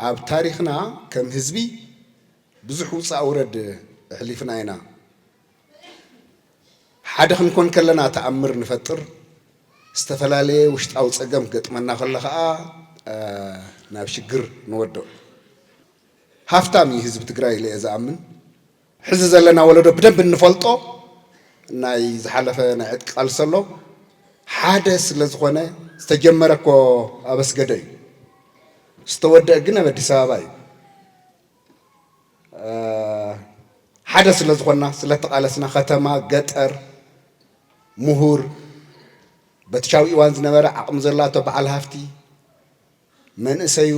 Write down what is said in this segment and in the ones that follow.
ኣብ ታሪኽና ከም ህዝቢ ብዙሕ ውፃእ ውረድ ኣሕሊፍና ኢና። ሓደ ክንኮን ከለና ተኣምር ንፈጥር፣ ዝተፈላለየ ውሽጣዊ ፀገም ክገጥመና ከሎ ከዓ ናብ ሽግር ንወድቕ። ሃፍታም እዩ ህዝቢ ትግራይ ኢለ እየ ዝኣምን። ሕዚ ዘለና ወለዶ ብደንቢ እንፈልጦ ናይ ዝሓለፈ ናይ ዕጥቂ ቃልሲ ኣሎ ሓደ ስለ ዝኾነ ዝተጀመረ እኮ ኣብ ኣስገደ እዩ ዝተወደእ ግን ኣብ ኣዲስ ኣበባ እዩ ሓደ ስለ ዝኾና ስለ ተቓለስና ከተማ ገጠር ምሁር በትሻዊ ኢዋን ዝነበረ ዓቕሚ ዘላቶ በዓል ሃፍቲ መንእሰዩ፣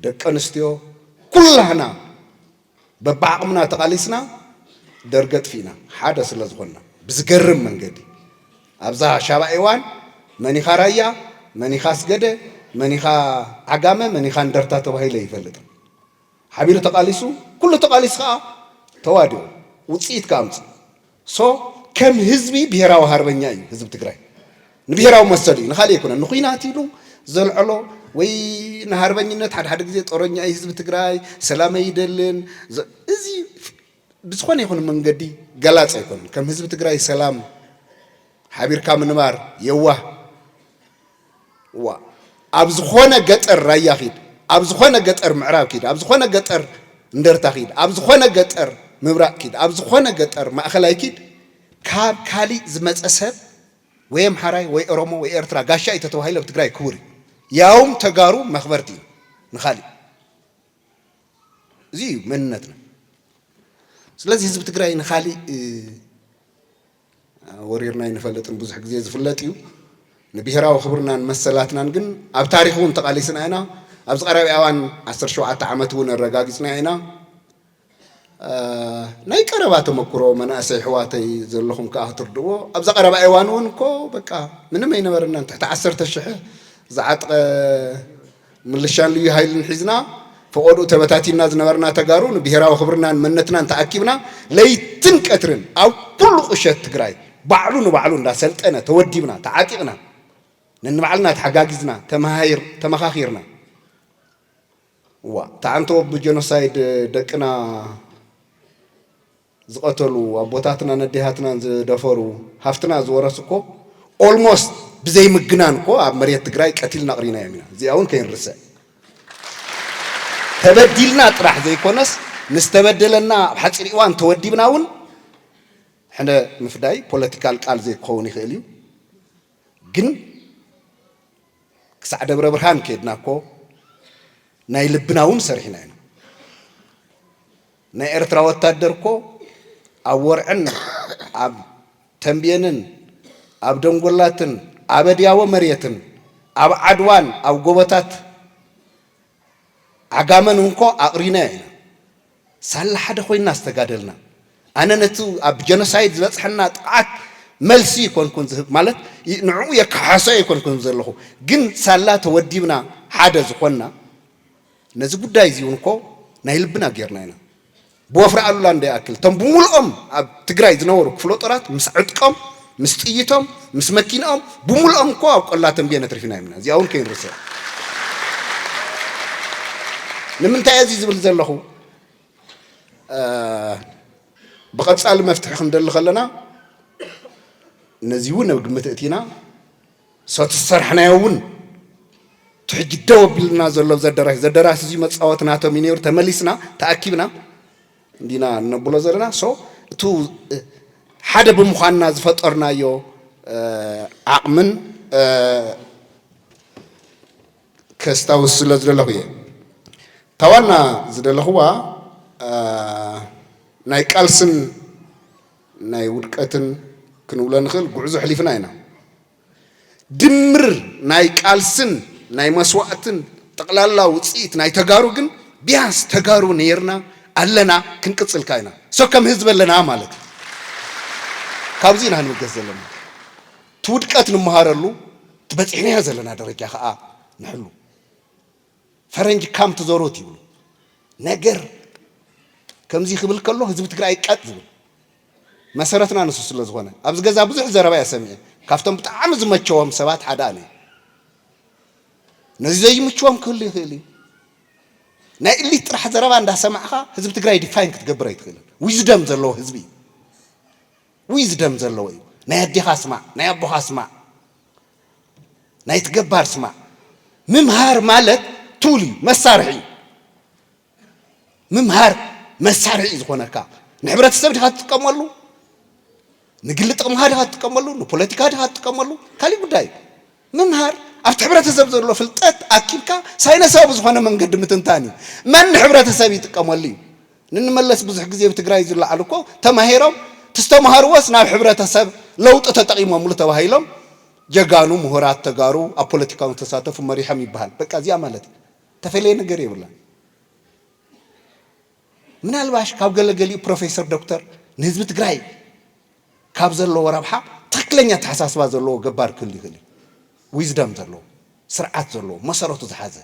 ደቂ ኣንስትዮ ኩላህና በብዓቕምና ተቓሊስና ደርጊ ኣጥፊእና ሓደ ስለዝኾንና። ብዝገርም መንገዲ ኣብዛ ሻባ ኤዋን መን ኢኻ ራያ፣ መን ኢኻ ኣስገደ፣ መን ኢኻ ዓጋመ፣ መን ኢኻ እንደርታ ተባሂሉ ኣይፈልጥን። ሓቢሩ ተቓሊሱ፣ ኩሉ ተቓሊሱ ከኣ ተዋዲቑ ውጽኢት ከኣ ኣምጺኡ። so ከም ህዝቢ ብሄራዊ ሃርበኛ እዩ ህዝቢ ትግራይ ንብሄራዊ መሰሉ እዩ ንካሊእ ኣይኮነን ንኩናት ኢሉ ዘልዐሎ ወይ ንሃርበኝነት ሓደ ሓደ ግዜ ጦረኛ እዩ ህዝቢ ትግራይ ሰላም ኣይደልን እዚ ብዝኾነ ይኹን መንገዲ ገላፅ ኣይኮነን ከም ህዝቢ ትግራይ ሰላም ሓቢርካ ምንባር የዋህ ዋእ ኣብ ዝኾነ ገጠር ራያ ኺድ ኣብ ዝኾነ ገጠር ምዕራብ ኪድ ኣብ ዝኾነ ገጠር እንደርታ ኪድ ኣብ ዝኾነ ገጠር ምብራቅ ኪድ ኣብ ዝኾነ ገጠር ማእኸላይ ኪድ ካብ ካሊእ ዝመፀ ሰብ ወይ ኣምሓራይ ወይ ኦሮሞ ወይ ኤርትራ ጋሻ እዩ ተተባሂሉ ኣብ ትግራይ ክቡር እዩ ያውም ተጋሩ መኽበርቲ እዩ ንኻሊእ እዚ እዩ መንነትና ስለዚ ህዝቢ ትግራይ ንኻሊእ ወሪርና ኣይንፈልጥን ብዙሕ ግዜ ዝፍለጥ እዩ። ንብሄራዊ ክብርናን መሰላትናን ግን ኣብ ታሪኽ እውን ተቓሊስና ኢና። ኣብዚ ቀረባ እዋን ዓሰርተ ሸውዓተ ዓመት እውን ኣረጋጊፅና ኢና። ናይ ቀረባ ተመኩሮ መናእሰይ ኣሕዋተይ ዘለኹም ከዓ ክትርድእዎ ኣብዛ ቀረባ እዋን እውን እኮ በቃ ምንም ኣይነበረናን ትሕቲ ዓሰርተ ሽሕ ዝዓጥቀ ምልሻን ልዩ ሃይልን ሒዝና ፈቖድኡ ተበታቲንና ዝነበርና ተጋሩ ንብሄራዊ ክብርናን መንነትናን ተኣኪብና ለይትን ቀትርን ኣብ ኩሉ ቁሸት ትግራይ ባዕሉ ንባዕሉ እንዳሰልጠነ ተወዲብና ተዓጢቕና ነንባዕልና ተሓጋጊዝና ተመኻኺርና እዋእ ተዓንተዎ ብጀኖሳይድ ደቅና ዝቀተሉ ኣቦታትናን ኣዴታትናን ዝደፈሩ ሃፍትና ዝወረሱ እኮ almost ብዘይ ምግናን እኮ ኣብ መሬት ትግራይ ቀቲልና ኣቅሪናዮም ኢና እዚኣ እውን ከይንርስዕ ተበዲልና ጥራሕ ዘይኮነስ ንዝተበደለና ኣብ ሓፂር እዋን ተወዲብና እውን ሕነ ምፍዳይ ፖለቲካል ቃል ዘይክኸውን ይኽእል እዩ ግን ክሳዕ ደብረ ብርሃን ከይድና እኮ ናይ ልብና እውን ሰሪሕና ኢና። ናይ ኤርትራ ወታደር እኮ ኣብ ወርዕን ኣብ ተምቤንን ኣብ ደንጎላትን ኣብ ኣድያቦ መሬትን ኣብ ዓድዋን ኣብ ጎቦታት ዓጋመን እንኮ ኣቕሪናዮ ኢና። ሳላ ሓደ ኮይንና ዝተጋደልና። ኣነ ነቲ ኣብ ጀኖሳይድ ዝበጽሐና ጥቕዓት መልሲ ኣይኮንኩን ዝህብ ማለት ንዕኡ የከሓሶ ኣይኮንኩን ዘለኹ ግን ሳላ ተወዲብና ሓደ ዝኾንና ነዚ ጉዳይ እዚ እውን እኮ ናይ ልብና ገይርና ኢና። ብወፍሪ ኣሉላ እንዶ ይኣክል እቶም ብሙሉኦም ኣብ ትግራይ ዝነበሩ ክፍለጦራት ምስ ዕጥቆም፣ ምስ ጥይቶም፣ ምስ መኪንኦም ብሙሉኦም እኮ ኣብ ቆላ ተምቤን ኣትሪፍናዮም ኢና። እዚኣ እውን ከይንርስዕ። ንምንታይ እየ እዚ ዝብል ዘለኹ? ብቐፃሊ መፍትሒ ክንደሊ ከለና ነዚ እውን ኣብ ግምት እእቲና፣ ሰቲ ዝሰርሕናዮ እውን እቲ ሕጂ ደው ኣቢሉና ዘሎ ኣብዚ ኣዳራሽ እዚ ኣዳራሽ እዚ መጻወቲ ናቶም እዩ ነይሩ ተመሊስና ተኣኪብና እንዲና እነብሎ ዘለና ሶ እቲ ሓደ ብምዃንና ዝፈጠርናዮ ዓቕምን ከስታውስ ስለ ዝደለኹ እየ እታ ዋና ዝደለኽዋ ናይ ቃልስን ናይ ውድቀትን ክንብሎ ንኽእል ጉዕዞ ኣሕሊፍና ኢና። ድምር ናይ ቃልስን ናይ መስዋእትን ጠቕላላ ውጽኢት ናይ ተጋሩ ግን ቢያንስ ተጋሩ ነይርና ኣለና ክንቅጽል ከኣ ኢና so ከም ህዝቢ ኣለና ማለት እዩ። ካብዚ ኢና ክንብገስ ዘለና እቲ ውድቀት ንመሃረሉ እቲ በጺሕናዮ ዘለና ደረጃ ከኣ ንሕሉ። ፈረንጅ ካም ቱ ዘሩት ይብሉ ነገር ከምዚ ክብል ከሎ ህዝቢ ትግራይ ቀጥ ዝብል መሰረትና ንሱ ስለ ዝኾነ ኣብዚ ገዛ ብዙሕ ዘረባ እየ ሰሚዐ ካብቶም ብጣዕሚ ዝመቸዎም ሰባት ሓደ ኣነ ነዚ ዘይምችዎም ክህሉ ይኽእል እዩ ናይ እሊት ጥራሕ ዘረባ እንዳሰማዕኻ ህዝቢ ትግራይ ዲፋይን ክትገብር ኣይትኽእልን። ዊዝደም ዘለዎ ህዝቢ እዩ። ዊዝደም ዘለዎ እዩ። ናይ ኣዴኻ ስማዕ፣ ናይ ኣቦኻ ስማዕ። ናይቲ ገባር ስማዕ። ምምሃር ማለት ቱል እዩ መሳርሒ እዩ ምምሃር መሳርሒ እዩ ዝኾነካ ንሕብረተሰብ ድኻ ትጥቀመሉ ንግሊ ጥቕምኻ ድኻ ትጥቀመሉ ንፖለቲካ ድኻ ትጥቀመሉ ካሊእ ጉዳይ እዩ ምምሃር ኣብቲ ሕብረተሰብ ዘሎ ፍልጠት ኣኪብካ ሳይነሳዊ ብዝኾነ መንገዲ ምትንታን እዩ መን ንሕብረተሰብ ይጥቀመሉ እዩ ንንመለስ ብዙሕ ግዜ ብ ትግራይ ዝለዓሉ እኮ ተማሂሮም ትዝተማሃርዎስ ናብ ሕብረተሰብ ለውጢ ተጠቂሞምሉ ተባሂሎም ጀጋኑ ምሁራት ተጋሩ ኣብ ፖለቲካውን ዝተሳተፉ መሪሖም ይበሃል በቃ እዚኣ ማለት እያ ተፈለየ ነገር የብላን ምናልባሽ ካብ ገለ ገሊኡ ፕሮፌሰር ዶክተር ንህዝቢ ትግራይ ካብ ዘለዎ ረብሓ ትክክለኛ ኣተሓሳስባ ዘለዎ ገባር ክህሉ ይክእል እዩ ዊዝደም ዘለዎ ስርዓት ዘለዎ መሰረቱ ዝሓዘ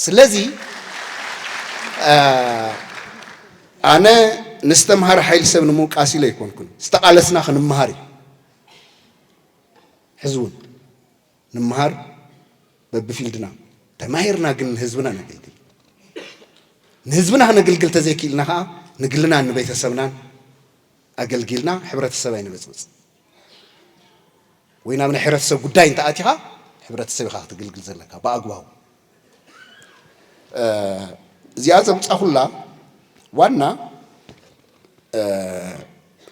ስለዚ ኣነ ንዝተምሃረ ሓይሊ ሰብ ንምውቃስ ኢለ ኣይኮንኩን። ዝተቓለስና ክንምሃር እዩ። ሕዚ እውን ንምሃር በብፊልድና ተማሂርና ግን ንህዝብና ነገልግል ንህዝብና ክነግልግል ተዘይክኢልና ከዓ ንግልናን ንቤተሰብናን ኣገልጊልና ሕብረተሰብ ኣይንበፅብፅ። ወይ ናብ ናይ ሕብረተሰብ ጉዳይ እንተኣቲኻ ሕብረተሰብ ኢኻ ክትግልግል ዘለካ ብኣግባቡ እዚኣ ዘምፃኹላ ዋና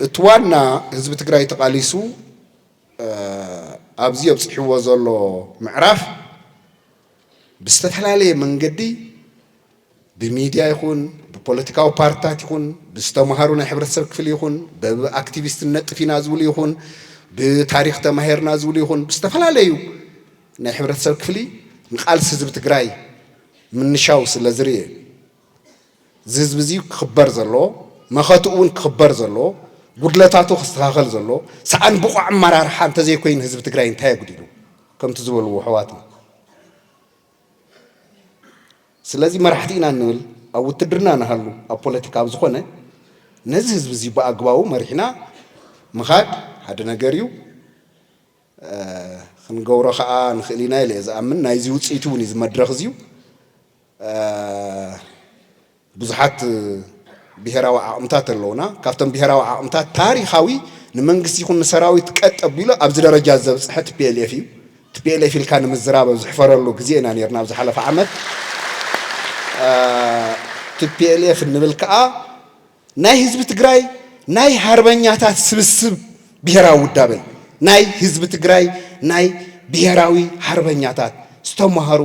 እቲ ዋና ህዝቢ ትግራይ ተቓሊሱ ኣብዚ ኣብፅሕዎ ዘሎ ምዕራፍ ብዝተፈላለየ መንገዲ ብሚድያ ይኹን ብፖለቲካዊ ፓርትታት ይኹን ብዝተምሃሩ ናይ ሕብረተሰብ ክፍሊ ይኹን በብ ኣክቲቪስት ንነጥፍ ኢና ዝብሉ ይኹን ብታሪኽ ተማሂርና ዝብሉ ይኹን ብዝተፈላለዩ ናይ ሕብረተሰብ ክፍሊ ንቃልሲ ህዝቢ ትግራይ ምንሻው ስለ ዝርእ እዚ ህዝቢ እዚ ክኽበር ዘለዎ መኸትኡ እውን ክኽበር ዘለዎ ጉድለታቱ ክስተኻኸል ዘለዎ ሰኣን ብቑዕ ኣመራርሓ እንተዘይኮይኑ ህዝቢ ትግራይ እንታይ ኣጉዲሉ ከምቲ ዝበልዎ ኣሕዋትና ስለዚ መራሕቲ ኢና እንብል ኣብ ውትድርና ንሃሉ ኣብ ፖለቲካ ኣብ ዝኾነ ነዚ ህዝቢ እዚ ብኣግባቡ መሪሕና ምኻድ ሓደ ነገር እዩ ክንገብሮ ከዓ ንኽእል ኢና ኢለ እየ ዝኣምን ናይዚ ውፅኢት እውን እዩ እዚ መድረኽ እዚዩ ብዙሓት ብሄራዊ ዓቕምታት ኣለዉና። ካብቶም ብሄራዊ ዓቕምታት ታሪኻዊ ንመንግስቲ ይኹን ንሰራዊት ቀጥ ኣቢሉ ኣብዚ ደረጃ ዘብጽሐ ቲፒኤልኤፍ እዩ። ቲፒኤልኤፍ ኢልካ ንምዝራብ ኣብ ዝሕፈረሉ ግዜ ኢና ኔርና ኣብ ዝሓለፈ ዓመት። ቲፒኤልኤፍ እንብል ከኣ ናይ ህዝቢ ትግራይ ናይ ሃርበኛታት ስብስብ ብሄራዊ ውዳበ እዩ። ናይ ህዝቢ ትግራይ ናይ ብሄራዊ ሃርበኛታት ዝተማህሩ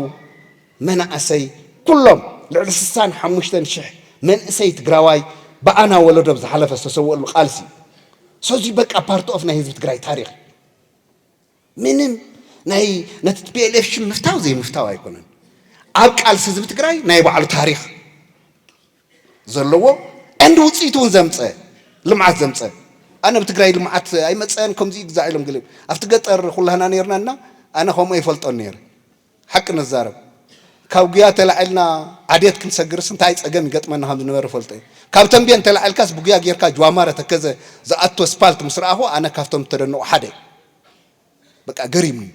መናእሰይ ኩሎም ልዕሊ ስሳን ሓሙሽተን ሽሕ መንእሰይ ትግራዋይ ብኣና ወለዶ ብ ዝሓለፈ ዝተሰወእሉ ቃልሲ እዩ ሰዙይ በቃ ፓርት ኦፍ ናይ ህዝቢ ትግራይ ታሪክ እዩ ምንም ናይ ነቲ ቲፒኤልኤፍ ሽም ምፍታው ዘይምፍታው ኣይኮነን ኣብ ቃልሲ ህዝቢ ትግራይ ናይ ባዕሉ ታሪክ ዘለዎ እንድ ውፅኢት እውን ዘምፀ ልምዓት ዘምፀ ኣነ ብ ትግራይ ልምዓት ኣይመፀን ከምዚ ግዛዕ ኢሎም ገሊኦም ኣብቲ ገጠር ኩላህና ነርና እና ኣነ ከምኡ ኣይፈልጦን ነይረ ሓቂ ንዛረብ ካብ ጉያ ተላዒልና ዓዴት ክንሰግርስ እንታይ ጸገም ይገጥመና ከም ዝነበረ እፈልጦ እየ። ካብ ተምቤን ተላዒልካስ ብጉያ ጌርካ ጅዋማረ ተከዘ ዝኣቱ ኣስፓልት ምስ ረኣኹ ኣነ ካብቶም ዝተደነቑ ሓደ እየ። በቃ ገሪሙኒ።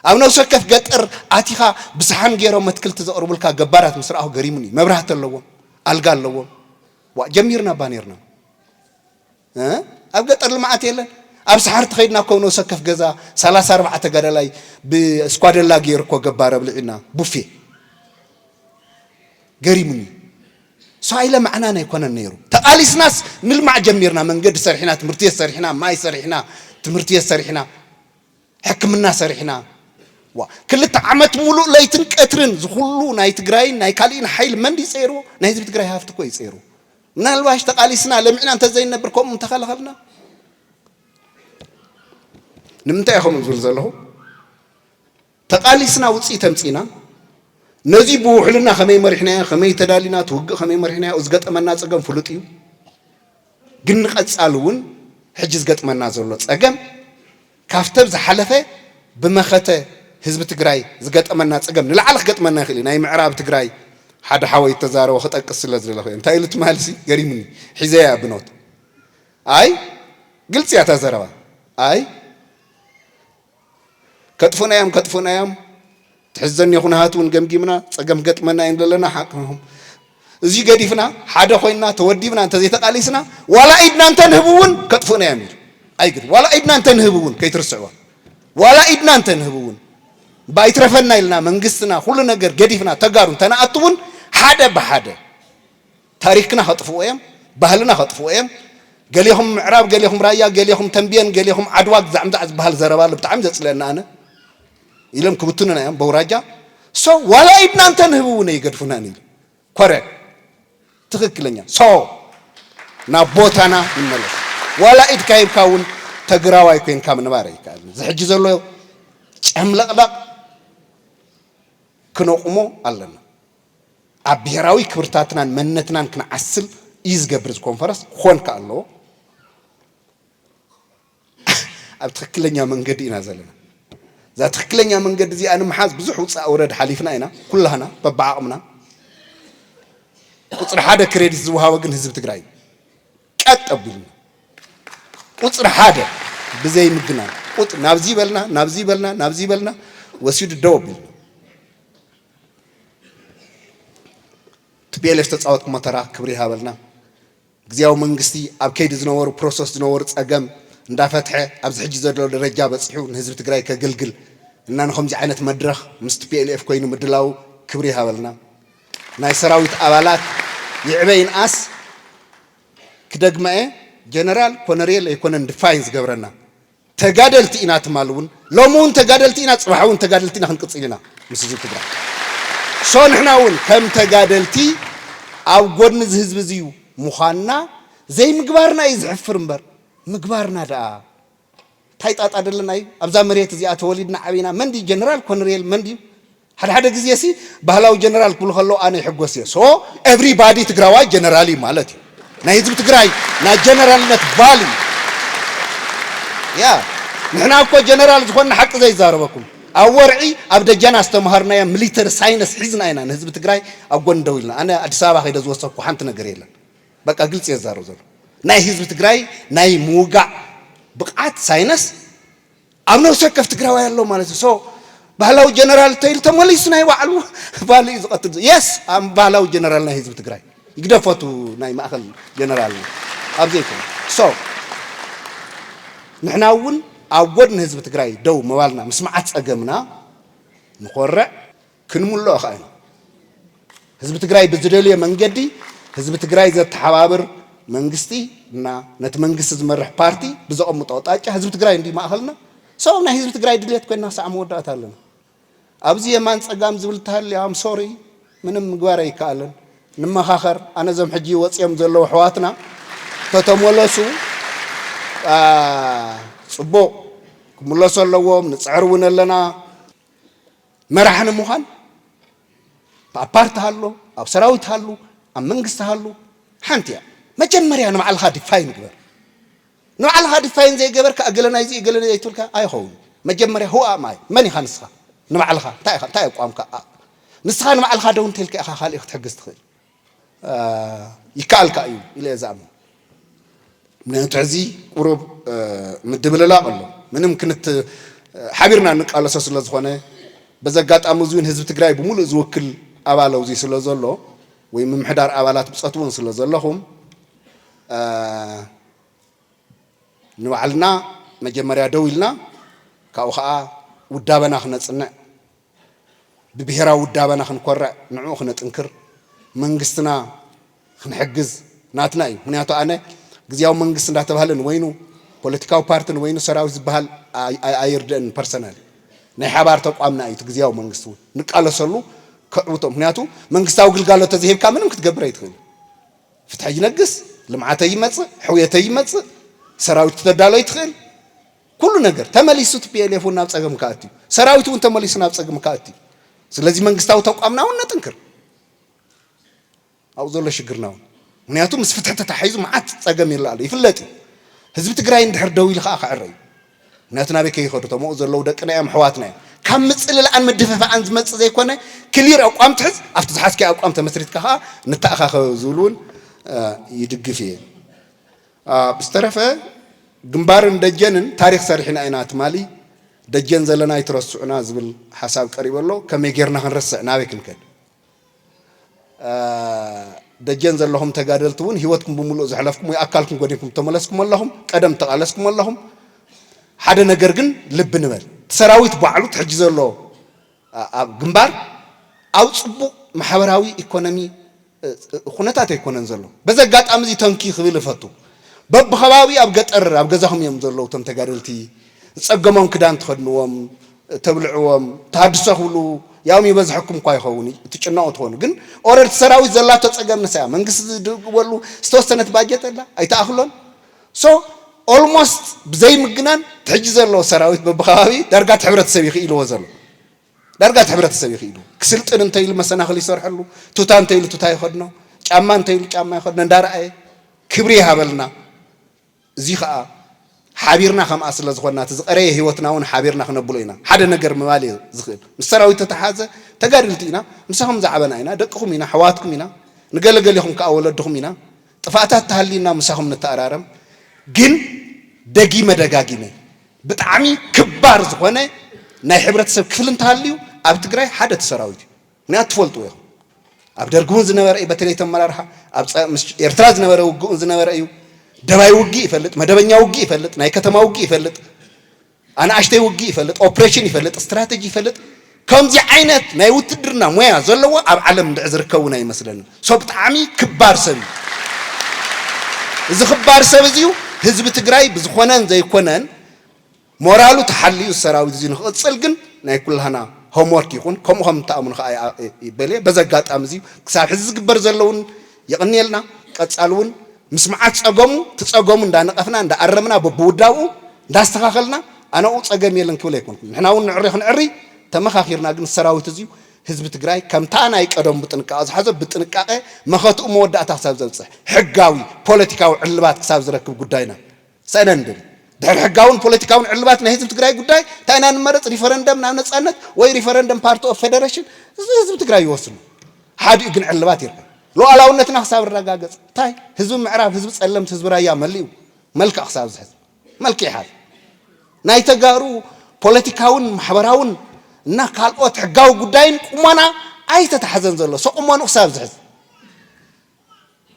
ኣብ ነብሲ ወከፍ ገጠር ኣቲኻ ብሰሓን ጌሮም ኣትክልቲ ዘቕርቡልካ ገባራት ምስ ረኣኹ ገሪሙኒ። መብራህቲ ኣለዎም፣ ኣልጋ ኣለዎም። ዋእ ጀሚርና እባ ኔርና። ኣብ ገጠር ልምዓት የለን ኣብ ሰሓርቲ ከይድና እኮ ነብሰ ወከፍ ገዛ ሰላሳ ኣርባዓ ተጋዳላይ ብስኳደላ ገይሩ እኮ ገባር ኣብሊዒና ቡፌ ገሪሙኒ ሰው ኣይለማዕናን ኣይኮነን ነይሩ ተቃሊስናስ ንልማዕ ጀሚርና መንገዲ ሰሪሕና ትምህርቲ ቤት ሰሪሕና ማይ ሰሪሕና ትምህርቲ ቤት ሰሪሕና ሕክምና ሰሪሕና ዋ ክልተ ዓመት ሙሉእ ለይትን ቀትርን ዝኩሉ ናይ ትግራይን ናይ ካልእን ሓይሊ መንዲ ይፀይርዎ ናይ ህዝቢ ትግራይ ሃፍቲ እኮ ይፀይርዎ ምናልባሽ ተቓሊስና ለሚዕና እንተዘይንነብር ከምኡ ምተኸላኸልና። ንምንታይ እየ ከምኡ ዝብል ዘለኹ? ተቓሊስና ውፅኢት ኣምፂእና ነዚ ብውሕልና ከመይ መሪሕናዮ ከመይ ተዳሊና እቲ ውግእ ከመይ መሪሕናዮ ኣብ ዝገጠመና ፀገም ፍሉጥ እዩ ግን ንቐፃሊ እውን ሕጂ ዝገጥመና ዘሎ ፀገም ካብቲ ኣብ ዝሓለፈ ብመኸተ ህዝቢ ትግራይ ዝገጠመና ፀገም ንላዕሊ ክገጥመና ይኽእል እዩ። ናይ ምዕራብ ትግራይ ሓደ ሓወይ ዝተዛረቦ ክጠቅስ ስለ ዝደለኹ እየ። እንታይ ኢሉ ትማሊ ሲ ገሪሙኒ ሒዘያ እያ ብኖት ኣይ ግልፂ እያ እታ ዘረባ ኣይ ከጥፉና እዮም ከጥፉና እዮም ትሕዘኒ ኩነሃት እውን ገምጊምና ፀገም ክገጥመና እዩ ንለና ሓቅኹም እዙይ ገዲፍና ሓደ ኮይንና ተወዲብና እንተዘይተቃሊስና ዋላ ኢድና እንተንህብ እውን ከጥፉእና እዮም ኢሉ ኣይግድ ዋላ ኢድና እንተንህብ እውን ከይትርስዕዋ ዋላ ኢድና እንተንህብ እውን ባይትረፈና ኢልና መንግስትና ኩሉ ነገር ገዲፍና ተጋሩ እንተንኣቱ እውን ሓደ ብሓደ ታሪክና ከጥፍእዎ እዮም ባህልና ከጥፍእዎ እዮም ገሌኹም ምዕራብ ገሌኹም ራያ ገሌኹም ተምቤን ገሌኹም ዓድዋ ግዛዕ ምዛዕ ዝባሃል ዘረባ ኣሎ ብጣዕሚ ዘፅልኣኒ ኣነ ኢሎም ክብትኑና እዮም በውራጃ ሶ ዋላ ኢድና እንተንህብ እውን ኣይገድፉናን ኢሉ ኮረ ትክክለኛ ሶ ናብ ቦታና ንመለስ ዋላ ኢድካ ሂብካ እውን ተግራዋይ ኮንካ ምንባር ኣይከኣልን እዚ ሕጂ ዘሎ ጨምለቕለቕ ክነቑሞ ኣለና ኣብ ብሄራዊ ክብርታትናን መንነትናን ክንዓስል እዩ ዝገብር እዚ ኮንፈረስ ክኾን ከኣ ኣለዎ ኣብ ትክክለኛ መንገዲ ኢና ዘለና እዛ ትክክለኛ መንገዲ እዚኣ ንምሓዝ ብዙሕ ውፃእ ውረድ ሓሊፍና ኢና ኩላህና በብዓቕምና ቁፅሪ ሓደ ክሬዲት ዝወሃቦ ግን ህዝቢ ትግራይ እዩ ቀጥ ኣቢልና ቁፅሪ ሓደ ብዘይ ምግናን ቁጥ ናብዚ በልና ናብዚ በልና ናብዚ በልና ወሲዱ ደው ኣቢልና ቲፒኤልኤፍ ዝተፃወትኩሞ ተራ ክብሪ ይሃበልና። ግዝያዊ መንግስቲ ኣብ ከይዲ ዝነበሩ ፕሮሰስ ዝነበሩ ፀገም እንዳፈትሐ ኣብዚ ሕጂ ዘሎ ደረጃ በፂሑ ንህዝቢ ትግራይ ከገልግል እና ንከምዙይ ዓይነት መድረኽ ምስ ቲፒኤልኤፍ ኮይኑ ምድላዉ ክብሪ ይሃበልና። ናይ ሰራዊት ኣባላት ይዕበ ይንኣስ ክደግማ እየ ጀነራል ኮነሬል ኣይኮነን ድፋይን ዝገብረና ተጋደልቲ ኢና ትማል ውን ሎሚ ውን ተጋደልቲ ኢና ጽባሕ ውን ተጋደልቲ ኢና ክንቅጽል ኢና ምስ ህዝቢ ትግራይ so ንሕና ውን ከም ተጋደልቲ ኣብ ጎድኒ እዚ ህዝቢ እዚ ምዃንና ዘይምግባርና እዩ ዝሕፍር እምበር ምግባርና ደኣ ታይ ጣጣ ደለና እዩ ኣብዛ መሬት እዚኣ ተወሊድና ዓቢና መን ድዩ ጀነራል ኮነሬል መን ድዩ ሓደ ሓደ ግዜ ሲ ባህላዊ ጀነራል ክብሉ ከለዉ ኣነ ይሕጎስ እየ so every body ትግራዋይ ጀነራል እዩ ማለት እዩ ናይ ህዝቢ ትግራይ ናይ ጀነራልነት value ያ ንሕና እኮ ጀነራል ዝኾንና ሓቂ ዘይዛረበኩም ኣብ ወርዒ ኣብ ደጀና ዝተምሃርናዮ ሚሊተሪ ሳይነስ ሒዝና ኢና ንህዝቢ ትግራይ ኣብ ጎኒ ደው ኢልና ኣነ ኣዲስ ኣበባ ከይደ ዝወሰኩዎ ሓንቲ ነገር የለን በቃ ግልፂ እየ ዝዛረብ ዘሎ ናይ ህዝቢ ትግራይ ናይ ምውጋእ ብቕዓት ሳይነስ ኣብ ነብሲ ወከፍ ትግራዋይ ኣሎ ማለት እዩ ሶ ባህላዊ ጀነራል ተይል ተመሊሱ ናይ ባዕሉ ባል እዩ ዝቐትል ዘሎ የስ ኣም ባህላዊ ጀነራል ናይ ህዝቢ ትግራይ ይግደፈቱ ናይ ማእኸል ጀነራል እዩ ኣብ ዘይኮነ ሶ ንሕና እውን ኣብ ጎድኒ ህዝቢ ትግራይ ደው ምባልና ምስ መዓት ፀገምና ንኾርዕ ክንምልኦ ከኣ ኢና። ህዝቢ ትግራይ ብዝደልዮ መንገዲ ህዝቢ ትግራይ ዘተሓባብር መንግስቲ እና ነቲ መንግስቲ ዝመርሕ ፓርቲ ብዘቐምጦ ኣቕጣጫ ህዝቢ ትግራይ እንድዩ ማእኸልና ሰው ናይ ህዝቢ ትግራይ ድሌት ኮይና ክሳዕ መወዳእታ ኣለና። ኣብዚ የማን ፀጋም ዝብል እንተሃልዩ ኣም ሶሪ ምንም ምግባር ኣይከኣልን። ንመኻኸር ኣነ እዞም ሕጂ ወፅዮም ዘለዉ ኣሕዋትና ተተመለሱ ፅቡቕ ክምለሱ ኣለዎም ንፅዕር እውን ኣለና። መራሒ ንምዃን ኣብ ፓርቲ ሃሉ ኣብ ሰራዊት ሃሉ ኣብ መንግስቲ ሃሉ ሓንቲ እያ መጀመርያ ንባዕልኻ ዲፋይን ግበር ንባዕልኻ ዲፋይን ዘይገበርካ እገለ ናይዚ እገለ ዘይትብልካ ኣይኸውን መጀመርያ ሁኣ ማይ መን ኢኻ ንስኻ ንባዕልኻ እንታይ ኢኻ እንታይ ኣቋምካ ንስኻ ንባዕልኻ ደው እንተልካ ኢኻ ካልእ ክትሕግዝ ትኽእል ይከኣል ከኣ እዩ ኢለ እየ ዝኣምን። ምክንያቱ ሕዚ ቁሩብ ምድብልላቕ ኣሎ። ምንም ክንት ሓቢርና እንቃለሶ ስለ ዝኾነ በዚ ኣጋጣሚ እዚ እውን ህዝቢ ትግራይ ብምሉእ ዝውክል ኣባል ኣብዚ ስለ ዘሎ ወይ ምምሕዳር ኣባላት ብጾት እውን ስለ ዘለኹም ንባዕልና መጀመርያ ደው ኢልና ካብኡ ከኣ ውዳበና ክነጽንዕ ብብሄራዊ ውዳበና ክንኮርዕ ንዕኡ ክነጥንክር መንግስትና ክንሕግዝ ናትና እዩ ምክንያቱ ኣነ ግዝያዊ መንግስቲ እንዳተባህለ ንወይኑ ፖለቲካዊ ፓርቲ ንወይኑ ሰራዊት ዝበሃል ኣይርድእን ፐርሰናሊ ናይ ሓባር ተቋምና እዩ እቲ ግዝያዊ መንግስቲ እውን ንቃለሰሉ ከዕውቶ ምክንያቱ መንግስታዊ ግልጋሎት ተዘይሂብካ ምንም ክትገብር ኣይትኽእል ፍትሐ ይነግስ ልምዓተ ይመፅእ ሕውየተ ይመፅእ ሰራዊት ክተዳሎ ይትኽእል ኩሉ ነገር ተመሊሱ ቲፒኤልኤፍ እውን ናብ ፀገም ክኣቱ እዩ። ሰራዊት እውን ተመሊሱ ናብ ፀግም ክኣቱ እዩ። ስለዚ መንግስታዊ ተቋምና እውን ነጥንክር ኣብኡ ዘሎ ሽግርና እውን ምክንያቱ ምስ ፍትሒ ተታሒዙ መዓት ፀገም ይርእ ኣሎ ይፍለጥ እዩ። ህዝቢ ትግራይ እንድሕር ደው ኢሉ ከዓ ክዕረ እዩ። ምክንያቱ ናበይ ከይኸዱ እቶም ኣብኡ ዘለዉ ደቅና እዮም ኣሕዋትና እዮም። ካብ ምፅልላዕን ምድፍፋዕን ዝመፅእ ዘይኮነ ክሊር ኣቋም ትሕዝ ኣብቲ ዝሓዝካዮ ኣቋም ተመስሪትካ ከዓ ንተኣኻኸብ ዝብል እውን ይድግፍ እየ። ብዝተረፈ ግንባርን ደጀንን ታሪኽ ሰሪሕና ኢና ትማሊ ደጀን ዘለና ኣይትረስዑና ዝብል ሓሳብ ቀሪቡ ኣሎ ከመይ ጌርና ክንረስዕ ናበይ ክንከድ ደጀን ዘለኹም ተጋደልቲ እውን ሂወትኩም ብምሉእ ዘሕለፍኩም ወይ ኣካልኩም ጎዲንኩም ተመለስኩም ኣለኹም ቀደም ተቓለስኩም ኣለኹም ሓደ ነገር ግን ልቢ ንበል እቲ ሰራዊት ባዕሉ ሕጂ ዘሎ ኣብ ግንባር ኣብ ፅቡቕ ማሕበራዊ ኢኮኖሚ ኩነታት ኣይኮነን ዘሎ በዚ ኣጋጣሚ እዚ ተንኪ ክብል እፈቱ በብከባቢኡ ኣብ ገጠር ኣብ ገዛኹም እዮም ዘለዉ እቶም ተጋደልቲ ዝጸገሞም ክዳን ትኸድንዎም ተብልዕዎም ተሃድሶ ክብሉ ያኦም ይበዝሐኩም እኳ ይኸውን ትጭነቑ ትኾኑ ግን ኦረድ እቲ ሰራዊት ዘላቶ ጸገም ንሳያ መንግስቲ ዝድግበሉ ዝተወሰነት ባጀት ኣላ ኣይትኣኽሎን ሶ ኦልሞስት ብዘይምግናን ትሕጂ ዘሎ ሰራዊት በብከባቢ ዳርጋ እቲ ሕብረተሰብ እዩ ክኢልዎ ዘሎ ዳርጋ እቲ ሕብረተሰብ እዩ ክኢሉ ክስልጥን እንተ ኢሉ መሰናኽል ይሰርሐሉ፣ ቱታ እንተ ኢሉ ቱታ ይኸድኖ፣ ጫማ እንተ ኢሉ ጫማ ይኸድኖ እንዳረኣየ ክብሪ ይሃበልና። እዚ ኸኣ ሓቢርና ከምኣ ስለ ዝኾንና እቲ ዝቐረየ ህይወትና እውን ሓቢርና ክነብሎ ኢና። ሓደ ነገር ምባል እየ ዝኽእል ምስ ሰራዊት ዝተተሓሓዘ ተጋደልቲ ኢና፣ ምሳኹም ዝዓበና ኢና፣ ደቅኹም ኢና፣ ኣሕዋትኩም ኢና፣ ንገለ ገሌኹም ከኣ ወለድኹም ኢና፣ ጥፋኣታት ተሃሊና ምሳኹም ንተኣራረም ግን ደጊመ ደጋጊመ ብጣዕሚ ክባር ዝኾነ ናይ ሕብረተሰብ ክፍሊ እንተሃልዩ ኣብ ትግራይ ሓደ እቲ ሰራዊት እዩ ምኽንያቱ ትፈልጥዎ ኢኹም ኣብ ደርጊ እውን ዝነበረ እዩ በተለይ እቲ ኣመራርሓ ኣብ ፀ ምስ ኤርትራ ዝነበረ ውግእ እውን ዝነበረ እዩ ደባይ ውግእ ይፈልጥ መደበኛ ውግእ ይፈልጥ ናይ ከተማ ውግእ ይፈልጥ ኣናእሽተይ ውግእ ይፈልጥ፣ ኦፕሬሽን ይፈልጥ፣ ስትራተጂ ይፈልጥ፣ ከምዚ ዓይነት ናይ ውትድርና ሞያ ዘለዎ ኣብ ዓለም እንድዒ ዝርከብ እውን ኣይመስለንን። ሶ ብጣዕሚ ክባር ሰብ እዩ። እዚ ክባር ሰብ እዚ እዩ ህዝቢ ትግራይ ብዝኾነን ዘይኮነን ሞራሉ ተሓሊኡ እዚ ሰራዊት እዚ ንክቕፅል ግን ናይ ኩላህና ሆምወርክ ይኹን ከምኡ ከም እትኣምኑ ከዓ በልየ በዚ ኣጋጣሚ እዚ ክሳብ ሕዚ ዝግበር ዘለውን የቕንየልና ቀፃሊ እውን ምስ መዓት ፀገሙ ትፀገሙ እንዳነቐፍና እንዳኣረምና በብውዳብኡ እንዳስተኻኸልና ኣነኡ ፀገም የለን ክብል ኣይኮንኩን ንሕና እውን ንዕሪ ክንዕሪ ተመኻኺርና ግን ሰራዊት እዙይ ህዝቢ ትግራይ ከምታ ናይ ቀደሙ ብጥንቃቐ ዝሓዞ ብጥንቃቐ መኸትኡ መወዳእታ ክሳብ ዘብፅሕ ሕጋዊ ፖለቲካዊ ዕልባት ክሳብ ዝረክብ ጉዳይና ሰነንድን ድሕሪ ሕጋውን ፖለቲካውን ዕልባት ናይ ህዝቢ ትግራይ ጉዳይ እንታይ ኢና ንመረፅ ሪፈረንደም ናብ ነፃነት ወይ ሪፈረንደም ፓርቲ ኦፍ ፌደሬሽን እዚ ህዝቢ ትግራይ ይወስኑ ሓዲኡ ግን ዕልባት ይርአ ሉዓላውነትና ክሳብ እረጋገፅ እንታይ ህዝቢ ምዕራብ ህዝቢ ፀለምት ህዝቢ ራያ መሊኡ መልክዕ ክሳብ ዝሕዝ መልክዕ ይሓዝ ናይ ተጋሩ ፖለቲካውን ማሕበራውን እና ካልኦት ሕጋዊ ጉዳይን ቁሞና ኣይተታሕዘን ዘሎ ሰቁሞኑ ክሳብ ዝሕዝ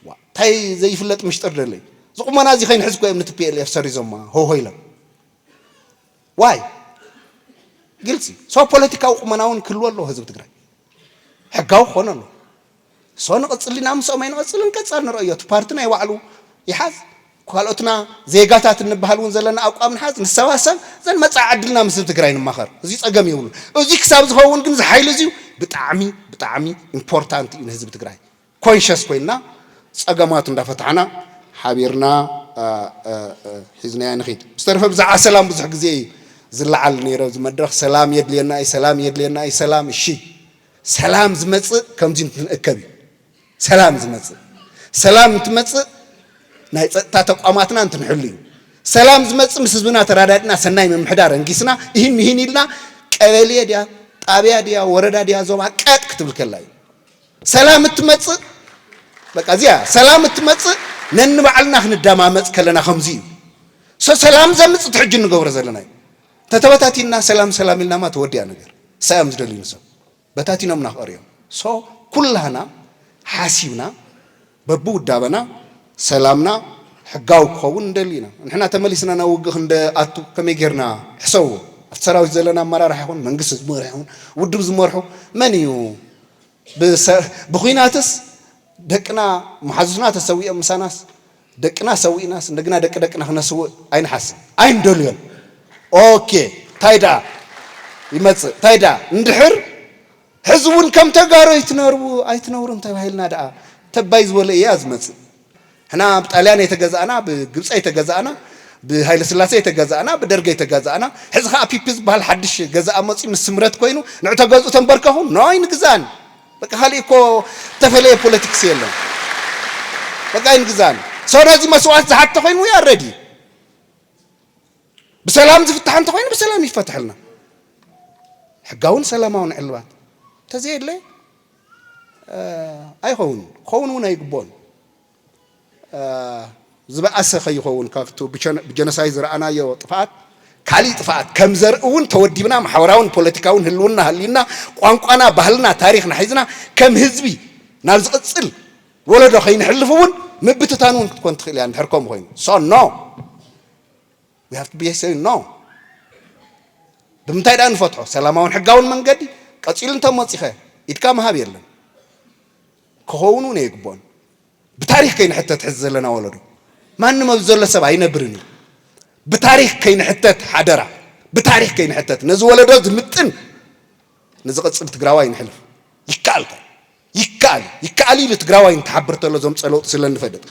ዋእ ታይ ዘይፍለጥ ምሽጥር ደለዩ ዝቁመና እዚ ከይንሕዝ እኮ እዮም ን tplf ሰሪዞማ ሆሆ ኢሎም ዋይ ግልፂ ሶ ፖለቲካዊ ቁመና እውን ክህልዎ ኣለዎ ህዝቢ ትግራይ ሕጋዊ ክኾነ ኣለዎ ሶ ንቕፅል ኢና ምስኦም ኣይንቐፅልን ቀፃል ንረእዮ እቲ ፓርቲ ናይ ባዕሉ ይሓዝ ካልኦትና ዜጋታት እንበሃል እውን ዘለና ኣቋም ንሓዝ ንሰባሰብ ዘን መፃኢ ዕድልና ምስ ህዝቢ ትግራይ ንማኸር እዚ ፀገም የብሉን እዚ ክሳብ ዝኸውን ግን እዚ ሓይሊ እዚዩ ብጣዕሚ ብጣዕሚ ኢምፖርታንት እዩ ንህዝቢ ትግራይ ኮንሸስ ኮይንና ፀገማቱ እንዳፈታሕና ሓቢርና ሒዝናዮ ንኺድ። ብዝተረፈ ብዛዕባ ሰላም ብዙሕ ግዜ እዩ ዝለዓል ነይሩ ኣብዚ መድረኽ። ሰላም የድልየና እዩ፣ ሰላም የድልየና እዩ፣ ሰላም እሺ። ሰላም ዝመፅእ ከምዚ እንትንእከብ እዩ ሰላም ዝመፅእ። ሰላም እንትመፅእ ናይ ፀጥታ ተቋማትና እንትንሕሉ እዩ ሰላም ዝመፅእ። ምስ ህዝብና ተራዳድና ሰናይ ምምሕዳር ኣንጊስና እሂን ምሂን ኢልና ቀበሌ ድያ ጣብያ ድያ ወረዳ ድያ ዞባ ቀጥ ክትብል ከላ እዩ። ሰላም እትመጽእ በቃ እዚኣ ሰላም እትመጽእ ነንባዕልና ክንደማመጽ ከለና ከምዚ እዩ ሰላም ዘምጽ እቲ ሕጂ እንገብሮ ዘለና እዩ ተተበታቲና ሰላም ሰላም ኢልናማ ተወዲያ ነገር ሳዮም ዝደልዩ ንሰብ በታቲኖምና ክቐርዮም ሶ ኩላህና ሓሲብና በብውዳበና ሰላምና ሕጋዊ ክኸውን ንደሊ ኢና። ንሕና ተመሊስና ናብ ውግእ ክንደኣቱ ከመይ ጌርና? ሕሰቡ። ኣብቲ ሰራዊት ዘለና ኣመራርሓ ይኹን መንግስቲ ዝመርሑ ይኹን ውድብ ዝመርሑ መን እዩ? ብኩናትስ ደቅና መሓዙትና ተሰዊኦም ምሳናስ ደቅና ሰዊእናስ እንደገና ደቂ ደቅና ክነስውእ ኣይንሓስብ ኣይንደልዮን። ኦኬ ታይ ደኣ ይመጽእ ታይ ደኣ እንድሕር ሕዚ እውን ከም ተጋሩ ኣይትነርቡ ኣይትነብሩን ተባሂልና ድኣ ተባይ ዝበሎ ኢያ ዝመጽእ ሕና ብ ጣልያን ኣይተገዛእና ብ ግብጺ ኣይተገዛእና ብ ሃይለስላሴ ኣይተገዛእና ብ ደርጊ ኣይተገዛእና ሕዚ ከኣ ፒፒ ዝብሃል ሓድሽ ገዛኢ መጽዩ ምስ ስምረት ኮይኑ ንዑ ተገዝኡ ተንበርከኹ ን ኣይንግዛእን በቃ ካሊእ እኮ እተፈለየ ፖለቲክስ የለን በቃ ኣይንግዛእን ሰው ነዚ መስዋእት ዝሓተ ኮይኑ ዊ ኣር ረዲ ብሰላም ዝፍታሕ እንተኾይኑ ብሰላም ይፈትሐልና። ሕጋውን ሰላማውን ዕልባት እንተዘየለ ኣይኸውን ክኸውን እውን ኣይግብኦን። ዝበኣሰ ከይኸውን ካብቲ ብጀኖሳይድ ዝረኣናዮ ጥፍኣት ካሊእ ጥፍኣት ከም ዘርኢ እውን ተወዲብና ማሕበራውን ፖለቲካውን ህልውና ሃልዩና ቋንቋና ባህልና ታሪኽና ሒዝና ከም ህዝቢ ናብ ዝቕፅል ወለዶ ከይንሕልፍ እውን ምብትታን እውን ክትኮን ትኽእል እያ እንድሕር ከምኡ ኮይኑ ሶ ኖ we have to be saying no ብምንታይ ደኣ ንፈትሖ ሰላማውን ሕጋውን መንገዲ ቀፂሉ እንተመፂኸ ኢድካ ምሃብ የለን ክኸውን እውን የግብኦን ብታሪክ ከይንሕተት ሕዚ ዘለና ወለዶ ማንም ኣብዚ ዘሎ ሰብ ኣይነብርን እዩ ብታሪክ ከይንሕተት ሓደራ ብታሪክ ከይንሕተት ነዚ ወለዶ ዝምጥን ንዝቕፅል ትግራዋይ ንሕልፍ ይከኣልካ ይከኣል ይከኣል ኢሉ ትግራዋይ እንትሓብር ተሎ ዘምፀኦ ለውጢ ስለ እንፈልጥ።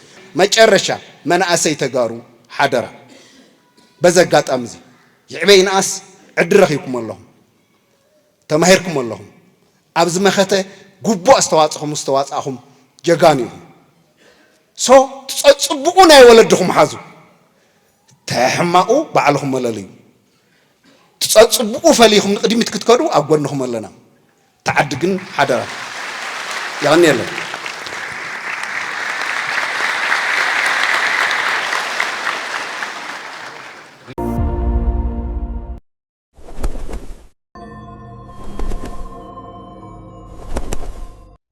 መጨረሻ መናእሰይ ተጋሩ ሓደራ በዚ ኣጋጣሚ እዚ ይዕበ ይንኣስ ዕድል ረኺብኩም ኣለኹም ተማሂርኩም ኣለኹም ኣብዚ መኸተ ግቡእ ኣስተዋፅኹም ዝተዋፃእኹም ጀጋኑ ኢኹም ሶ ትፀፅቡቑ ናይ ወለድኹም ሓዙ ተሕማቑ ባዕልኹም መለልዩ ትፀፅቡቑ ፈሊኹም ንቕድሚት ክትከዱ ኣብ ጎንኹም ኣለና። ትዓዲ ግን ሓደራ። የቐንየለይ።